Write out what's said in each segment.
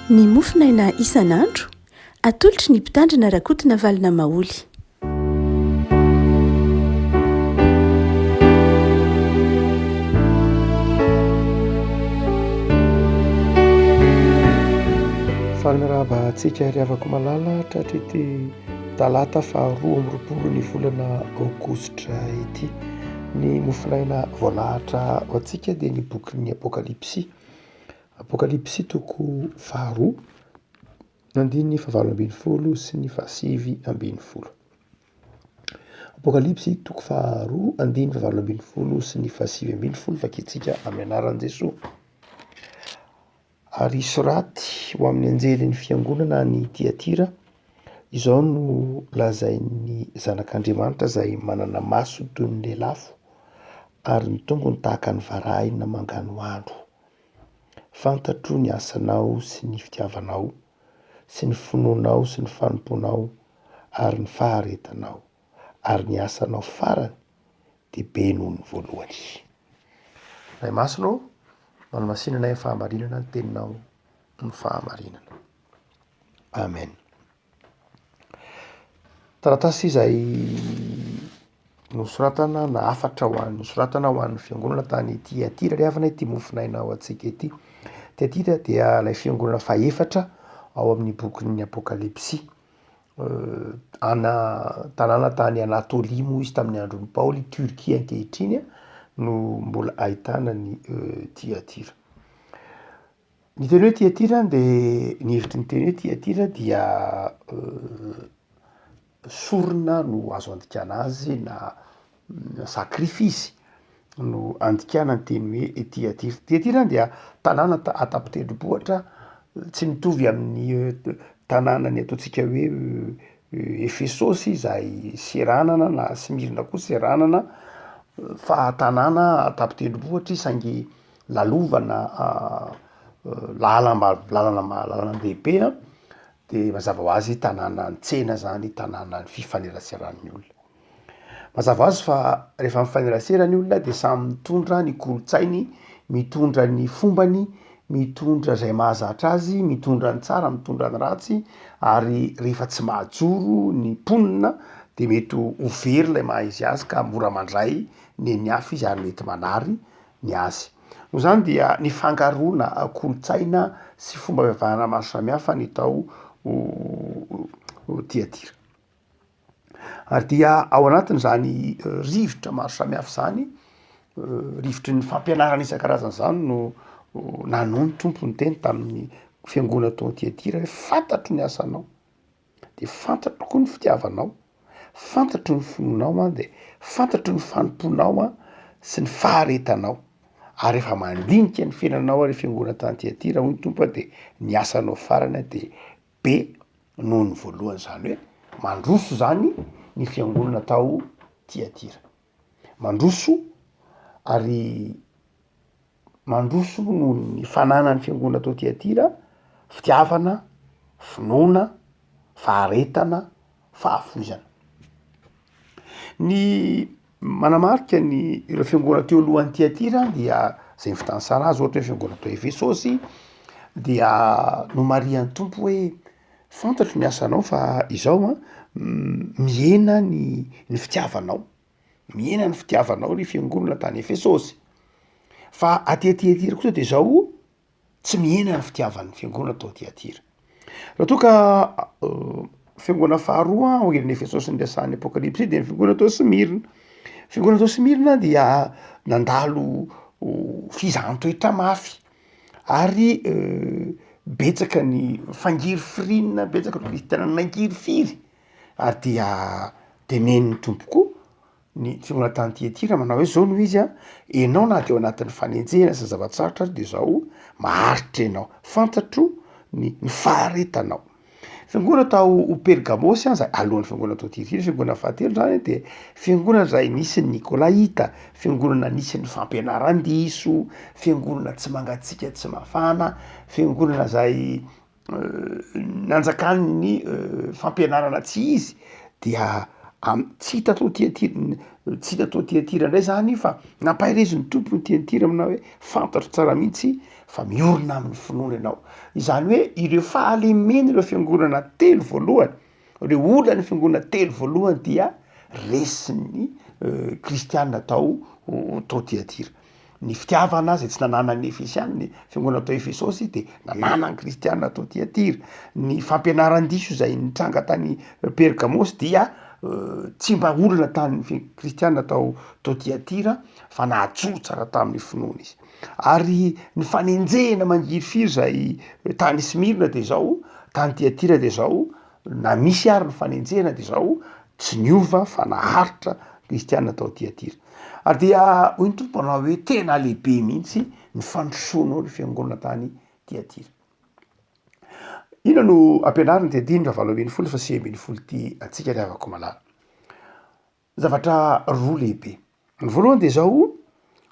Ny mofon'aina isan'andro, atolotry ny mpitandrina Rakotonavalo-na Maholy. Faly mirahaba antsika ry havako malala tratry ity. Talata faha roa amby roapolo ny volana aogositra ity. Ny mofonaina voalahatra ho antsika dia ny bokin'ny Apokalypsy. Apokalypsy toko faha roa, andininy fahavalo ambin'ny folo sy ny fahasivy ambin'ny folo. Apokalypsy toko faha roa, andininy fahavalo ambin'ny folo sy ny fahasivy ambin'ny folo, vakintsika amin'ny anaran'i Jesoa. Ary soraty ho amin'ny anjelin'ny fiangonana any Tyatira, Izao no lazain'ny Zanak'Andriamanitra izay manana maso toy ny lelafo ary ny tongony tahaka ny varahina manganohano, Fantatro ny asanao sy ny fitiavanao sy ny finoanao sy ny fanompoanao ary ny faharetanao ary ny asanao farany dia be noho ny voalohany. Ray Masina ô, manamasinana ny fahamarinana ny teninao ny fahamarinana. Amen. Taratasy izay nosoratana na hafatra ho an'ny soratana ho an'ny fiangonana tany Tiatira ry havana ity mofonaina ao antsika ity. Tiatira dia ilay fiangonana fahefatra ao amin'ny bokin'ny Apokalypsy. Ana tanàna tany Anatôlia moa izy tamin'ny andron'i Paoly, i Turquie ankehitriny no mbola ahitana an'i Tyatira. Ny teny hoe Tyatira de ny hevitry ny teny hoe Tyatira dia sorona no azo andikana azy na Sacrifice no andikana ny teny hoe Tiatira. Tiatira dia tanàna an-tapitendrombohitra tsy mitovy amin'ny tanànan'ny ataontsika hoe Efesosy izay seranana na Smyrna koa seranana fa tanàna an-tapitendrombohitra izy saingy lalovana lalam-bav- lalana- lalan-dehibe a de mazava ho azy tanànan'ny tsena zany, tanànan'ny fifaneraseran'ny olona. Mazava azy fa rehefa mifanerasera ny olona dia samy mitondra ny kolontsainy, mitondra ny fombany, mitondra izay mahazatra azy, mitondra ny tsara, mitondra ny ratsy ary rehefa tsy mahajoro ny mponina dia mety ho very ilay maha izy azy ka mora mandray ny an'ny hafa izy ary mety manary ny azy. Noho izany dia nifangaroana kolontsaina sy fomba fivavahana maro samihafa ny tao Tiatira. Ary dia ao anatin'izany rivotra maro samihafa izany, rivotry ny fampianarana isan-karazany izany no nanao ny Tompo niteny tamin'ny fiangonana tao Tiatira hoe fantatro ny asanao, dia fantatro koa ny fitiavanao, fantatro ny finoanao an, dia fantatro ny fanompoanao an, sy ny faharetanao, ary efa mandinika ny fiainanao ary fiangonana tany Tiatira hoy ny Tompo an, dia ny asanao farany dia be noho ny voalohany, izany hoe mandroso izany ny fiangonana tao Tiatira. Mandroso ary mandroso noho ny fananan'ny fiangonana tao Tiatira fitiavana, finoana, faharetana. fahafoizana. Ny manamarika ny ireo fiangonana teo alohan'i Tyatira dia zay ny fotoan'i Saraha azy ohatra hoe fiangonana tao Efesosy dia nomarihan'ny Tompo hoe fantatro ny asanao fa izao a mihena ny ny fitiavanao, mihena ny fitiavanao ry fiangonana tany Efesosy fa aty Tyatira kosa de zao tsy mihena ny fitiavan'ny fiangonana tao Tyatira. Raha toa ka fiangonana faharoa angelin'i Efesosy ny resahan'ny Apokalypsy dia ny fiangonana tao Smirna. Fiangonana tao Smirna dia nandalo fizahan-toetra mafy ary betsaka ny fangirifirinina, betsaka ny kristiana nangirifiry ary dia teneniny tompoko Ny Jonathan Tietira manao hoe zao no izy a, enao na de ao anatin'ny fanenjehana aza zava-tsarotra aza de zaho maharitra enao, fantatro ny ny faharetanao. Fiangonana tao ho Pergamosy an zay alohan'ny fiangonana tao Tiatira, fiangonana fahatelo zany de fiangonana zay nisy ny Nikolaita, fiangonana nisy ny fampianaran-diso, fiangonana tsy mangatsiaka tsy mafana, fiangonana zay nanjakan'ny fampianarana tsy izy dia am- tsy hita tao aty an-tir- tsy hita tao aty an-tirany indray zany fa nampaherezin'ny Tompo io aty an-tirany aminà hoe fantatro tsara mihitsy fa miorina amin'ny finoana ianao, izany hoe ireo fahalemen'ireo fiangonana telo voalohany Ireo olan'ny fiangonana telo voalohany dia resin'ny Kristiana tao tao Tyatira. Ny fitiavana izay tsy nananan'ny Efesiana, ny fiangonana tao Efesosy dia nananan'ny Kristiana tao Tyatira. Ny fampianaran-diso izay nitranga tany Pergamosy dia tsy mba olana tamin'ny Kristiana tao tao Tyatira fa najoro tsara tamin'ny finoana izy. Ary ny fanenjehina mangirifiry izay tany Smyrna dia izao, tany Tyatira dia izao, na misy ary ny fanenjehina dia izao, tsy niova fa naharitra ny kristiana tao Tyatira. Ary dia hoy ny Tompo anao hoe tena lehibe mihitsy ny fandrosoanao ny fiangonana tany Tyatira. Inona no ampianariny dia andininy fahavalo ambin'ny folo fa sivy ambin'ny folo ity antsika ry havako malala. Zavatra roa lehibe. Ny voalohany dia izao,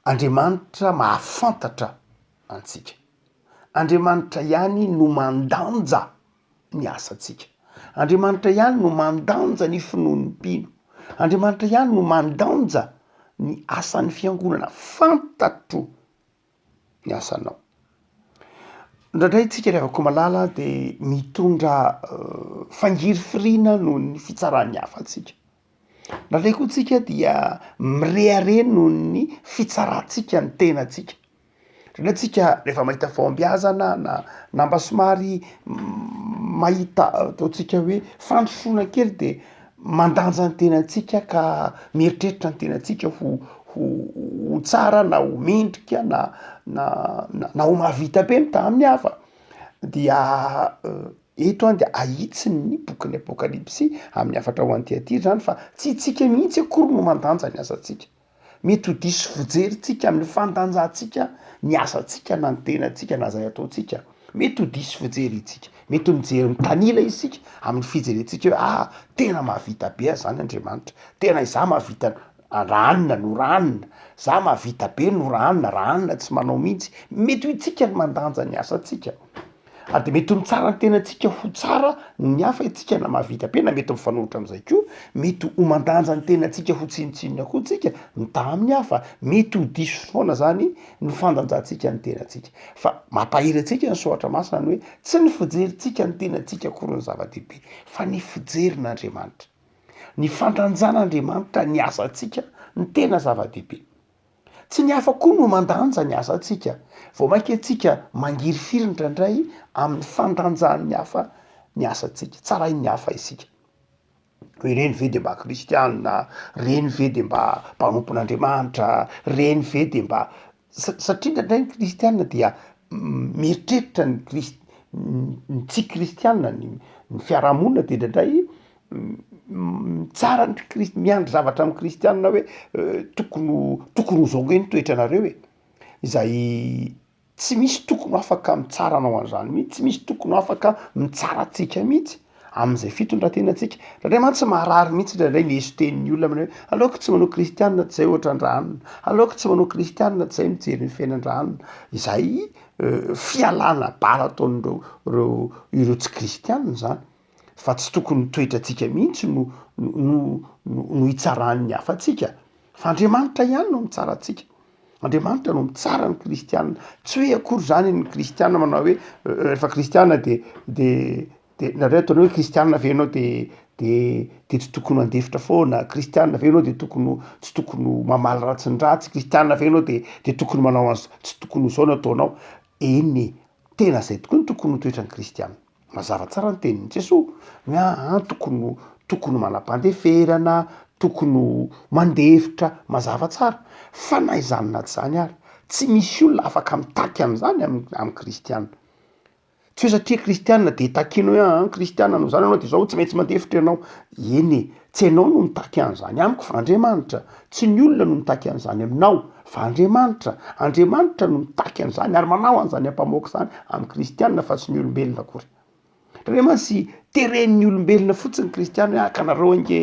Andriamanitra mahafantatra antsika. Andriamanitra ihany no mandanja ny asantsika. Andriamanitra ihany no mandanja ny finoan'ny mpino. Andriamanitra ihany no mandanja ny asan'ny fiangonana. Fantatro. ny asanao. Indraindray tsika ry havako malala de mitondra fangirifiriana noho ny fitsaran'ny hafa antsika, indraindray koa tsika dia mirehareha noho ny fitsarantsika ny tenantsika, indraindray tsika rehefa mahita fahombiazana na na mba somary mahita ataontsika hoe fandrosoana kely de mandanja ny tenantsika ka mieritreritra ny tenantsika ho ho ho tsara na ho mendrika na na na ho mahavita be mitaha amin'ny hafa dia eto a dia ahitsy ny bokin'ny apokalypsy amin'ny hafatra ho an'i Tiatira zany fa tsy tsika mihitsy akory no mandanja ny asantsika. Mety ho diso fijerintsika amin'ny fandanjahantsika ny asantsika na ny tenantsika na izay ataontsika. Mety ho diso fijery isika. Mety ho mijery mitanila isika amin'ny fijerentsika hoe ah tena mahavita be aho izany Andriamanitra, tena izaho mahavita raha anona no raha anona, izaho mahavita be no raha anona, raha anona tsy manao mihitsy. Mety ho isika no mandanja ny asantsika. A de mety ho mitsara ny tenantsika ho tsara ny hafa isika na mahavita be na mety mifanohitra amin'izay koa, mety ho mandanja ny tenantsika ho tsinontsinona koa isika mitaha amin'ny hafa, mety ho diso foana izany ny fandanjantsika ny tenantsika. Fa mampahery antsika ny soratra masina ny hoe tsy ny fijerintsika ny tenantsika akory no zava-dehibe fa ny fijerin'Andriamanitra. Ny fandanjan'Andriamanitra ny asantsika no tena zava-dehibe. Tsy ny hafa koa no mandanja ny asantsika, vao mainka isika mangirifiry indraindray amin'ny fandanjan'ny hafa ny asantsika, tsarain'ny hafa isika hoe ireny ve dia mba kristiana, ireny ve dia mba mpanompon'Andriamanitra, ireny ve dia mba sa- satria indraindray ny kristiana dia mieritreritra ny kris- ny tsy kristiana ny ny fiarahamonina dia indraindray Tsara ny kris- miandry zavatra amin'ny kristianina hoe tokony ho tokony ho zao ndray ny toetranareo e, zay tsy misy tokony ho afaka mitsara anao an'zany mihitsy, tsy misy tokony ho afaka mitsara antsika mihitsy am'zay fitondran-tenantsika, zare mantsy marary mihitsy ndraindray ny eso tenin'ny olona manao hoe aleoko tsy manao kristianina tsy zay ohatra ny raha anona, aleoko tsy manao kristianina tsy zay mijery ny fiainan-dra anona, izay fialana bala ataon'ireo reo ireo tsy kristianina zany. fa tsy tokony ny toetrantsika mihitsy no no no no hitsaran'ny hafa antsika fa Andriamanitra ihany no mitsara antsika. Andriamanitra no mitsara ny kristiana, tsy hoe akory izany ny kristiana manao hoe rehefa kristiana de de de nareo ataonareo hoe kristiana ve ianao de de de tsy tokony handefitra foana, kristiana ve ianao de tokony ho tsy tokony ho mamaly ratsy ny ratsy, kristiana ve ianao de de tokony manao an'zao tsy tokony ho zao no ataonao, eny e tena zay tokoa no tokony ho toetran'ny kristiana. Mazava tsara ny tenin'i Jesoa, ny hoe ahy antoko no tokony manam-pandeferana, tokony ho mandefitra, mazava tsara. Fa na izany na tsy izany ary, tsy misy olona afaka mitarika an'izany amin'ny kristiana. Tsy hoe satria kristiana dia takianao hoe ahy kristiana no izany ianao dia izao tsy maintsy mandefitra ianao, eny e, Tsy ianao no mitaky an'izany amiko fa Andriamanitra. Tsy ny olona no mitaky an'izany aminao fa Andriamanitra. Andriamanitra no mitaky an'izany ary manao an'izany ampamoaka izany amin'ny kristianina fa tsy ny olombelona akory. Tena mantsy teren'ny olombelona fotsiny ny kristiana hoe haka anareo ange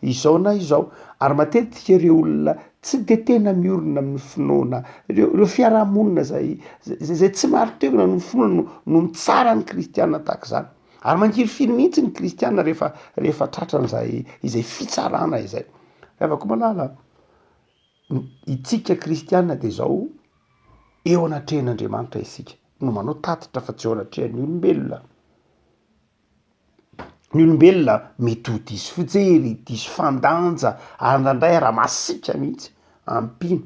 izao na izao ary matetika ireo olona tsy dia tena miorina amin'ny finoana, ireo ireo fiarahamonina izay izay tsy marin-toerana noho ny finoana no no mitsara ny kristiana tahaka izany. Ary mangirifiry mihitsy ny kristiana rehefa rehefa tratran'izay izay fitsarana izay. Havako malala, itsika kristiana dia izao eo anatrehan'Andriamanitra isika no manao tatitra fa tsy eo anatrehan'ny olombelona. Ny olombelona mety ho diso fijery, diso fandanja, ary indraindray ara-masiaka mihitsy, ampino.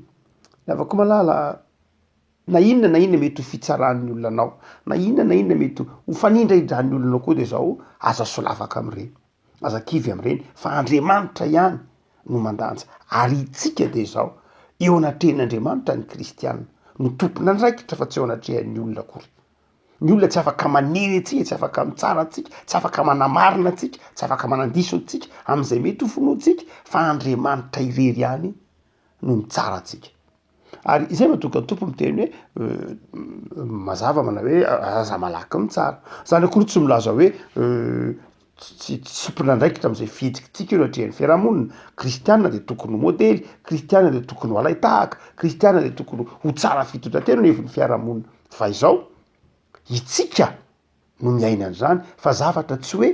Havako malala. Na inona na inona mety ho fitsaran'ny olona anao, na inona na inona mety ho fanindraidran'ny olona anao koa dia izao, aza solavaka amin'ireny, aza kivy amin'ireny fa Andriamanitra ihany no mandanja ary isika dia izao, eo anatrehan'Andriamanitra ny kristiana no tompon'andraikitra fa tsy eo anatrehan'ny olona akory. Ny olona tsy afaka manery antsika, tsy afaka mitsara antsika, tsy afaka manamarina antsika, tsy afaka manandiso antsika amin'izay mety ho finoantsika fa Andriamanitra irery ihany no mitsara antsika. Ary izay no tonga Tompo miteny hoe mazava manao hoe aza malaky ny tsara. Zany akory tsy milaza hoe tsy tsy mpinandraikitra amzay fihetsikitsika eo natrehan'ny fiarahamonina. Kristiana de tokony ho modely, kristiana de tokony ho alain-tahaka, kristiana de tokony ho tsara fitondran-tena eo anivon'ny fiarahamonina. Fa izao, itsika no miaina an'izany fa zavatra tsy hoe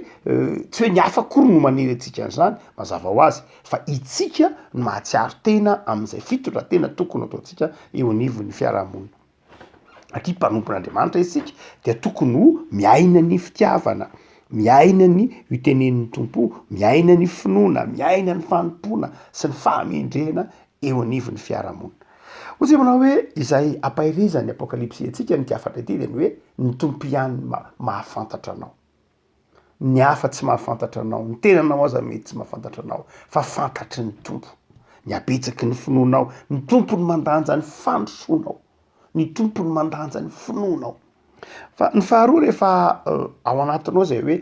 tsy hoe ny hafa akory no manery antsika an'izany mazava ho azy fa itsika no mahatsiaro tena amin'izay fitondratena tokony ataontsika eo anivon'ny fiarahamonina satria mpanompon'Andriamanitra isika dia tokony ho miaina ny fitiavana miaina ny ho tenenin'ny Tompo miaina ny finoana miaina ny fanompoana sy ny fahamendrehana eo anivon'ny fiarahamonina. Hoy isika manao hoe izay ampaherezan'ny Apokalypsy antsika amin'ity hafatra ity dia ny hoe ny Tompo ihany no mahafantatra anao. Ny hafa tsy mahafantatra anao, ny tenanao aza mety tsy mahafantatra anao fa fantatry ny Tompo. Ny habetsaky ny finoanao, ny Tompo no mandanja ny fandrosoanao, ny Tompo no mandanja ny finoanao. Fa ny faharoa rehefa ao anatinao izay hoe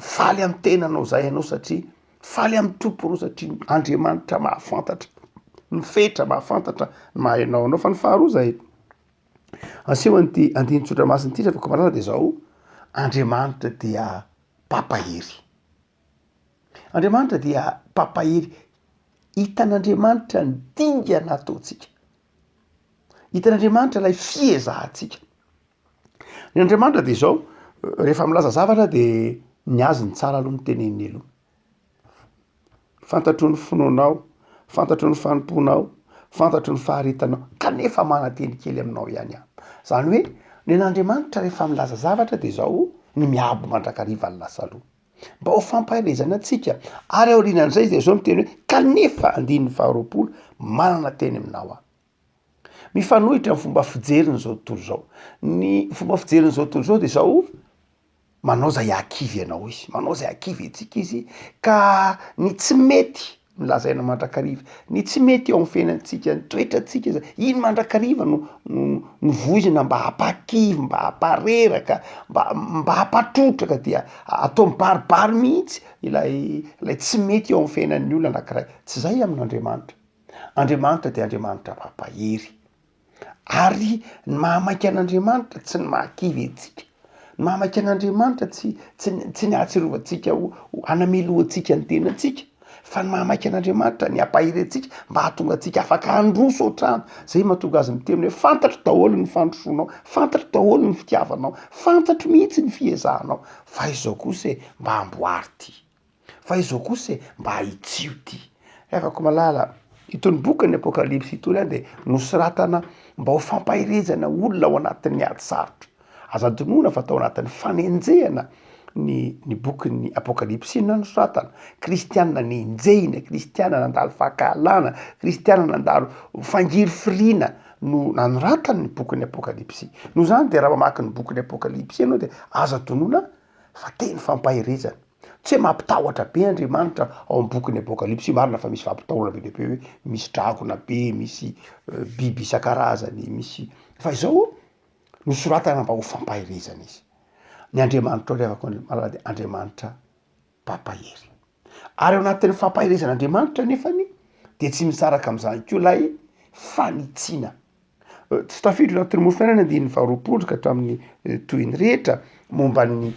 faly amin'ny tenanao izay ianao satria Faly amin'ny Tompo reo satria Andriamanitra mahafantatra ny fetra, mahafantatra ny maha enao anao. Fa ny faharoa izay aseho an'ity andininy tsotra masina ity reveko malaza dia izao, Andriamanitra dia mpampahery. Andriamanitra dia mpampahery. Hitan'Andriamanitra ny dingana ataontsika. Hitan'Andriamanitra ilay fiezahantsika. Ny Andriamanitra dia izao, rehefa milaza zavatra dia ny azy ny tsara aloha no teneniny aloha. Fantatro ny finoanao, fantatro ny fanompoanao, fantatro ny faharetanao, kanefa mananteny kely aminao ihany aho. Izany hoe nen'Andriamanitra rehefa milaza zavatra dia izao ny miabo mandrakariva ny lasa aloha. Mba ho fampaherezana antsika ary aorianan'izay dia izao ny teny hoe kanefa andininy faharoapolo manana teny aminao aho. Mifanohitra ny fomba fijeriny zao tontolo izao, ny fomba fijeriny zao tontolo izao de zao, manao zay hakivy anao izy, manao zay hakivy antsika izy ka ny tsy mety no lazaina mandrakariva, ny tsy mety eo amin'ny fiainantsika, ny toetrantsika izay, iny mandrakariva no no voizina mba hampakivy, mba hampareraka, mba mba hampatrotraka dia atao mibaribary mihitsy ilay ilay tsy mety eo amin'ny fiainan'ny olona anankiray, tsy zay amin'Andriamanitra. Andriamanitra dia Andriamanitra mampahery. Ary ny mahamaika an'Andriamanitra tsy ny mahakivy antsika. Ny mahamaika an'Andriamanitra tsy tsy ny tsy ny hahatsiarovantsika ho ho hanamelohantsika ny tenantsika fa ny mahamaika an'Andriamanitra ny hampahery antsika mba hahatonga antsika afaka handroso hatrany. Zay mahatonga azy miteny hoe fantatro daholo ny fandrosoanao, fantatro daholo ny fitiavanao, fantatro mihitsy ny fiezahanao fa izao kosa e mba amboary ty. Fa izao kosa e, mba ahitsio ty. Revako malala, itony bokin'ny apokalypsy itony de nosoratana mba ho fampaherezana olona ao anatin'ny ady sarotra. Aza adinoina fa tao anatin'ny fanenjehana ny ny bokin'ny apokalypsy no nanosoratana, kristiana nenjehina, kristiana nandalo fankahalana, kristiana nandalo fangirifiriana no nanoratany ny bokin'ny apokalypsy. Noho zany de raha mamaky ny bokin'ny apokalypsy ianao de aza adinoina. fa teny fampaherezana. Tsy hoe mampitahotra be Andriamanitra ao amin'ny bokin'ny Apokalypsy io, marina fa misy fampitahorana be dia be hoe misy dragona be, misy biby isan-karazany, misy, fa izao nosoratana mba ho fampaherezana izy. Ny Andriamanitra ireo avy ao Andriamanitra mpampahery. Ary ao anatin'ny fampaherezan'Andriamanitra anefany dia tsy misaraka amin'izany koa ilay fanitsiana. Tsy tafiditra ao anatin'ny mofo fiainana andininy faharoapolo ka hatramin'ny toy ny rehetra momba ny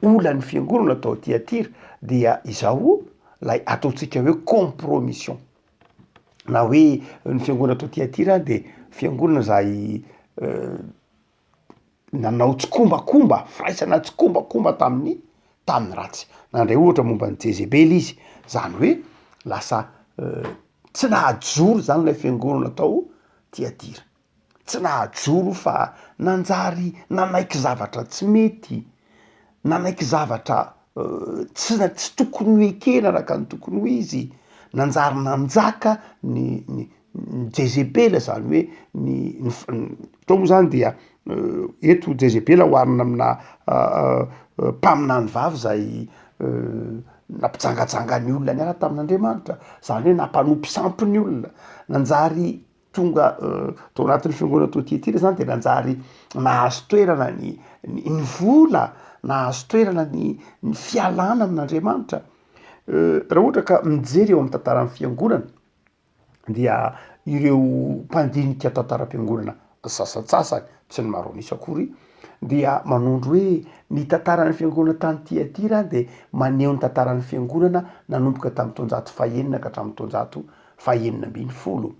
olan'ny fiangonana tao Tiatira dia izao ilay ataontsika hoe compromission na hoe ny fiangonana tao Tiatira dia fiangonana izay nanao tsikombakomba, firaisana tsikombakomba tamin'ny tamin'ny ratsy. Nandray ohatra momba an'i Jezebela izy, zany hoe lasa tsy nahajoro zany lay fiangonana tao Tiatira, tsy nahajoro fa nanjary nanaiky zavatra tsy mety, nanaiky zavatra tsy na- tsy tokony ho ekena araka ny tokony ho izy, nanjary nanjaka ny ny. ny jezebela zany hoe ny atao moa zany dia eto jezebela oharina amina mpaminany vavy zay nampijangajanga ny olona niala tamin'Andriamanitra zany hoe nampanompo sampy ny olona nanjary tonga tao anatin'ny fiangonana tao Tiatira zany de nanjary nahazo toerana ny ny vola nahazo toerana ny ny fialana amin'Andriamanitra raha ohatra ka mijery eo amin'ny tantaran'ny fiangonana dia ireo mpandinika tantaram-piangonana sasantsasany, tsy ny maro an'isa akory, dia manondro hoe ny tantaran'ny fiangonana tany Tyatira dia maneho ny tantaran'ny fiangonana nanomboka tamin'ny taonjato fahenina ka hatramin'ny taonjato fahenina ambin'ny folo.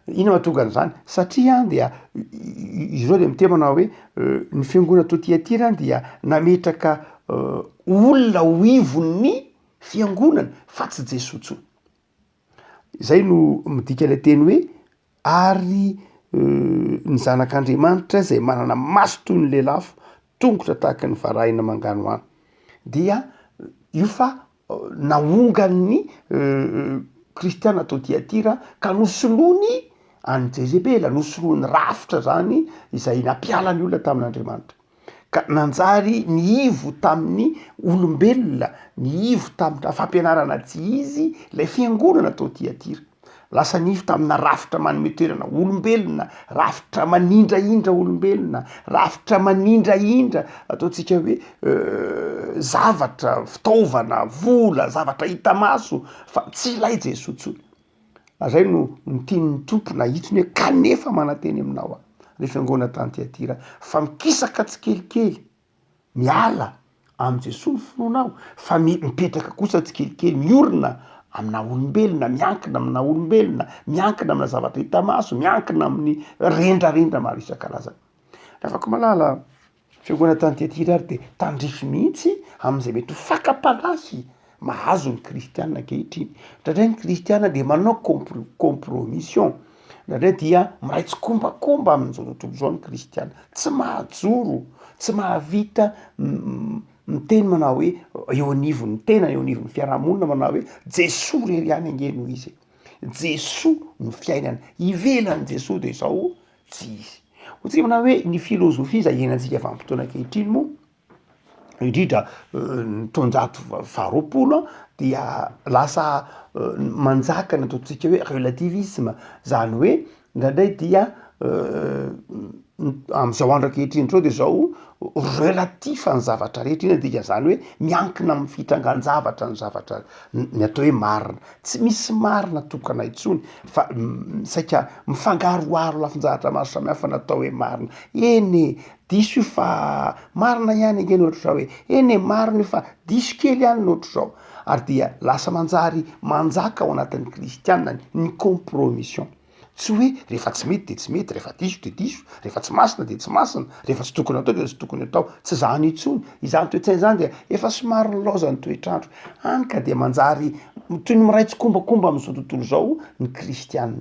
Inona mahatonga an'izany? Satria dia izy ireo dia miteny manao hoe ny fiangonana tao Tyatira dia nametraka olona ho ivon'ny fiangonana fa tsy Jesoa intsony. Izay no midika ilay teny hoe ary ny zanak'Andriamanitra izay manana maso toy ny lelafo, tongotra tahaka ny varahina manganohano. Dia io fa nahongan'ny kristiana tao Tyatira ka nosoloany an'i Jezebela, nosoloany rafitra izany izay nampiala ny olona tamin'Andriamanitra. ka nanjary nihivo tamin'ny olombelona, nihivo tamina fampianarana tsy izy ilay fiangonana tao Tyatira. Lasa nihivo tamina rafitra manome toerana olombelona, rafitra manindrahindra olombelona, rafitra manindrahindra ataontsika hoe zavatra, fitaovana, vola, zavatra hita maso fa tsy ilay Jesoa intsony. Na zay no no tian'ny Tompo na hitony hoe kanefa mananteny aminao aho, ry fiangonana tany Tyatira, fa mikisaka tsikelikely, miala amin'i Jesoa ny finoanao, fa mi- mipetraka kosa tsikelikely, miorina aminà olombelona, miankina aminà olombelona, miankina aminà zavatra hita maso, miankina amin'ny rendrarendra maro isan-karazany. Ravako malala a! Fiangonana t'Antiatira ary dia tandrify mihitsy amin'izay mety ho fakam-panahy mahazo ny kristiana ankehitriny. Indraindray ny kristiana dia manao compromission, indraindray dia miray tsikombakomba amin'izao tontolo izao ny kristiana, tsy mahajoro, tsy mahavita miteny manao hoe eo anivon'ny tenany, eo anivon'ny fiarahamonina manao hoe Jesoa irery ihany ange no izy e! Jesoa no fiainana, ivelan'i Jesoa dia izao o! Tsy izy. Ho tsipina hoe ny filôzôfia izay iainantsika vanim-potoana ankehitriny moa, indrindra ny taonjato faharoapolo an, dia lasa manjaka ny ataontsika hoe relativisma, izany hoe indraindray dia amin'izao andro ankehitriny izao dia izao relatif ny zavatra rehetra, inona ny dikan'izany hoe miankina amin'ny fitrangan-javatra ny zavatra ny atao hoe marina. Tsy misy marina tokana intsony fa saika mifangaroharo lafin-jahatra maro samihafa natao hoe marina. Eny e! diso io fa marina ihany ange ny ohatr'izao hoe eny e! marina io fa diso kely ihany ny ohatr'izao. Ary dia lasa manjary manjaka ao anatin'ny kristiana ny ny compromission. Tsy hoe rehefa tsy mety dia tsy mety, rehefa diso dia diso, rehefa tsy masina dia tsy masina, rehefa tsy tokony atao dia tsy tokony atao. Tsy izany intsony. Izany toe-tsaina izany dia efa somary nilaozan' ny toetr'andro. Hany ka dia manjary toy ny miray tsikombakomba amin'izao tontolo izao ny kristiana.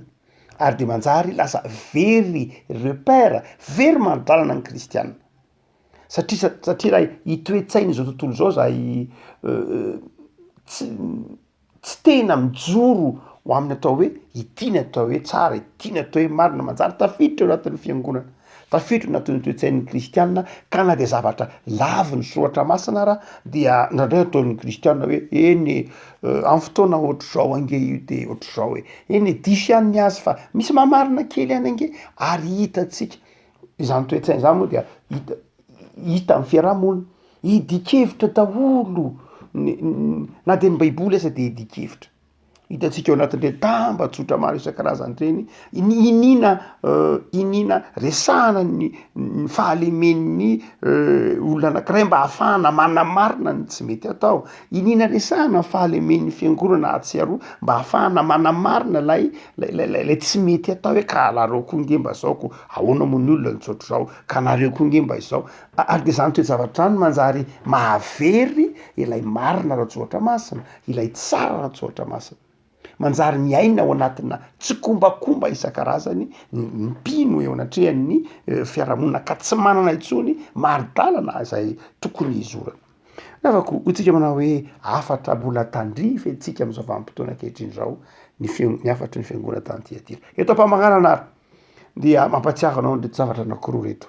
Ary dia manjary lasa very repère, very mari-dalana ny kristiana. Satria, satria raha itoe-tsain'izao tontolo izao izay tsy. tsy tena mijoro ho amin'ny atao hoe ity ny atao hoe tsara, ity ny atao hoe marina, manjary tafiditra ao anatin'ny fiangonana, tafiditra ao anatin'ny toe-tsain'ny kristiana, ka na dia zavatra lavin'ny soratra masina ara dia indraindray ataon'ny kristiana hoe eny e, amin'ny fotoana ohatr'izao ange io dia ohatr'izao e, eny e, diso ihany ny azy fa misy maha marina kely ihany ange, ary hitantsika Izany toe-tsaina izany moa dia hita hita amin'ny fiaraha-monina. Hidin-kevitra daholo ny na dia ny baiboly aza dia hidin-kevitra. Hitantsika ao anatin'ireny tambajotra maro isan-karazany ireny ny iniana iniana resahana ny ny fahalemen'ny olona anankiray mba hahafahana manamarina ny tsy mety atao. Iniana resahana ny fahalemen'ny fiangonana hahatsiaroa mba hahafahana manamarina ilay ilay ilay tsy mety atao hoe ka alarao koa nge mba zao ko Ahoana moa ny olona nitsotra izao ka nareo koa nge mba izao ary dia izany toe-javatra izany manjary mahavery ilay marina Ratsoatra Masina, ilay tsara Ratsoatra Masina. Manjary miaina ao anatina tsikombakomba isan-karazany ny mpino eo anatrehan'ny fiarahamonina ka tsy manana intsony mari-dalana izay tokony hizorany. Ravako hoy tsika manao hoe hafatra mbola tandrify antsika amin'izao vanim-potoana ankehitriny izao ny feon'ny hafatry ny Fiangonana tany Tyatira. Eto am-pamaranana ary. Dia mampatsiaro anao an'ireto zavatra anakiroa ireto,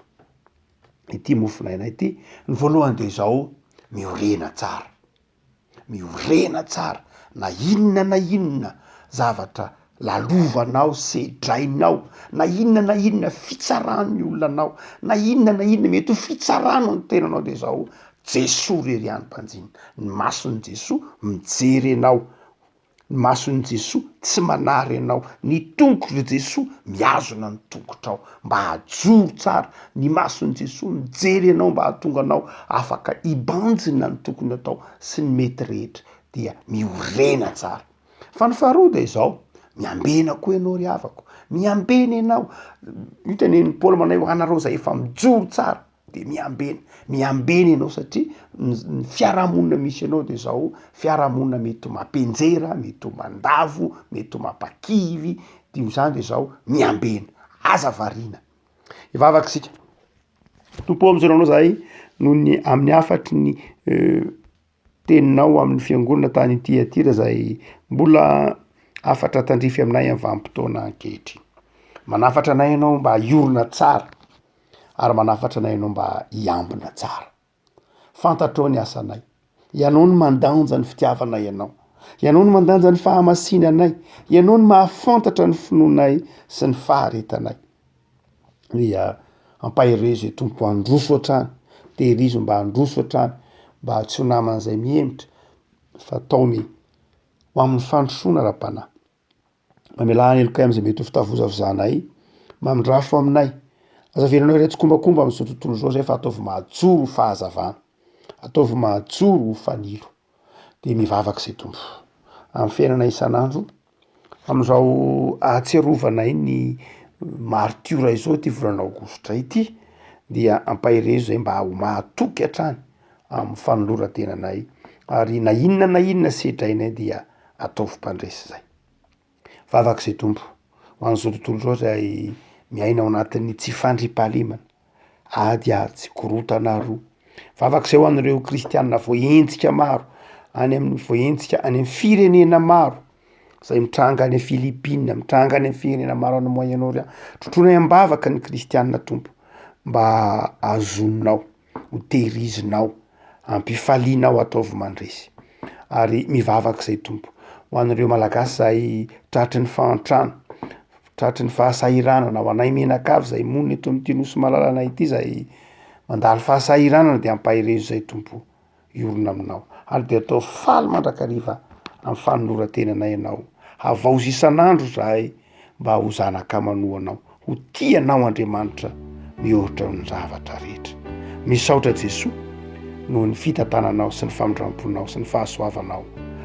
ity mofon'aina ity, ny voalohany dia izao, miorena tsara, miorena tsara na inona na inona zavatra lalovanao, sedrainao, na inona na inona fitsaran'ny olona anao, na inona na inona mety ho fitsaranao ny tenanao dia izao, Jesoa irery ihany mpanjinona, ny mason'i Jesoa mijery anao. Ny mason'i Jesoa tsy manary anao. Ny tongotr'i Jesoa mihazona ny tongotrao mba hajoro tsara. Ny mason'i Jesoa mijery anao mba hahatonga anao afaka hibanjina ny tokony atao sy ny mety rehetra dia miorena tsara. Fa ny faharoa dia izao, miambena koa ianao ry havako. Miambena ianao. Io tenenin'i Paoly manao hoe ho anareo izay efa mijoro tsara. de miambena miambena ianao satria ny fiarahamonina misy anao de zao fiarahamonina mety ho mapenjera mety ho mandavo mety ho mampakivy de zany de zao miambena aza variana hivavaka isika Tompo ô misaona anao zahay noho ny amin'ny hafatry ny. teninao amin'ny fiangonana tany Tiatira izay mbola hafatra tandrify aminay amin'ny vanim-potoana ankehitriny. Manafatra anay ianao mba hiorina tsara ary manafatra anay ianao mba hiambina tsara. Fantatrao ny asanay, ianao no mandanja ny fitiavanay ianao, ianao no mandanja ny fahamasinanay, ianao no mahafantatra ny finoanay sy ny faharetanay. dia ampaherezo e Tompo handroso hatrany, tehirizo mba handroso hatrany mba tsy ho naman'izay mihemotra fa ataony ho amin'ny fandrosoana Ra-panahy. Mamelà helokay amin'izay mety ho fitavozavozanay, mandrafo aminay, aza avelanao irery tsikombakomba amin'izao tontolo izao izay fa ataovy mahajoro ho fahazavana, ataovy mahajoro ho fanilo. dia mivavaka izay Tompo amin'ny fiainana isan'andro amin'izao ahatsiarovana iny maritiora izao ity volana aogositra ity dia ampaherezo izay mba ho mahatoky hatrany amin'ny fanoloran-tenanay ary na inona na inona sedrainay dia ataovy mpandresy izay. Vavaka izay Tompo ho an'izao tontolo izao izay miaina ao anatin'ny tsy fandriam-pahalemana, ady ary tsy korontana ary roa. Vavaka izay ho an'ireo kristianina voahenjika maro any amin'ny voahenjika any amin'ny firenena maro izay mitranga any Philippines, mitranga any amin'ny firenena maro any Moyen-orient, trotroinay am-bavaka ny kristianina Tompo mba hahazoninao. ho tehirizinao, ampifalianao ataovy mandresy ary mivavaka zay Tompo ho an'ireo malagasy zay tratry ny fahantrana, tratry ny fahasahiranana, ho anay mianakavy zay monina eto amin'ity nosy malalanay ity zay mandalo fahasahiranana de ampaherezo zay Tompo o. hiorina aminao, ary dia atao faly mandrakariva amin'ny fanoloran-tenanay anao. Havaozy isan'andro izahay mba ho zanaka manohanao, ho tia anao Andriamanitra mihoatra ny zavatra rehetra. Misaotra Jesoa noho ny fitantananao sy ny famindramponao sy ny fahasoavanao.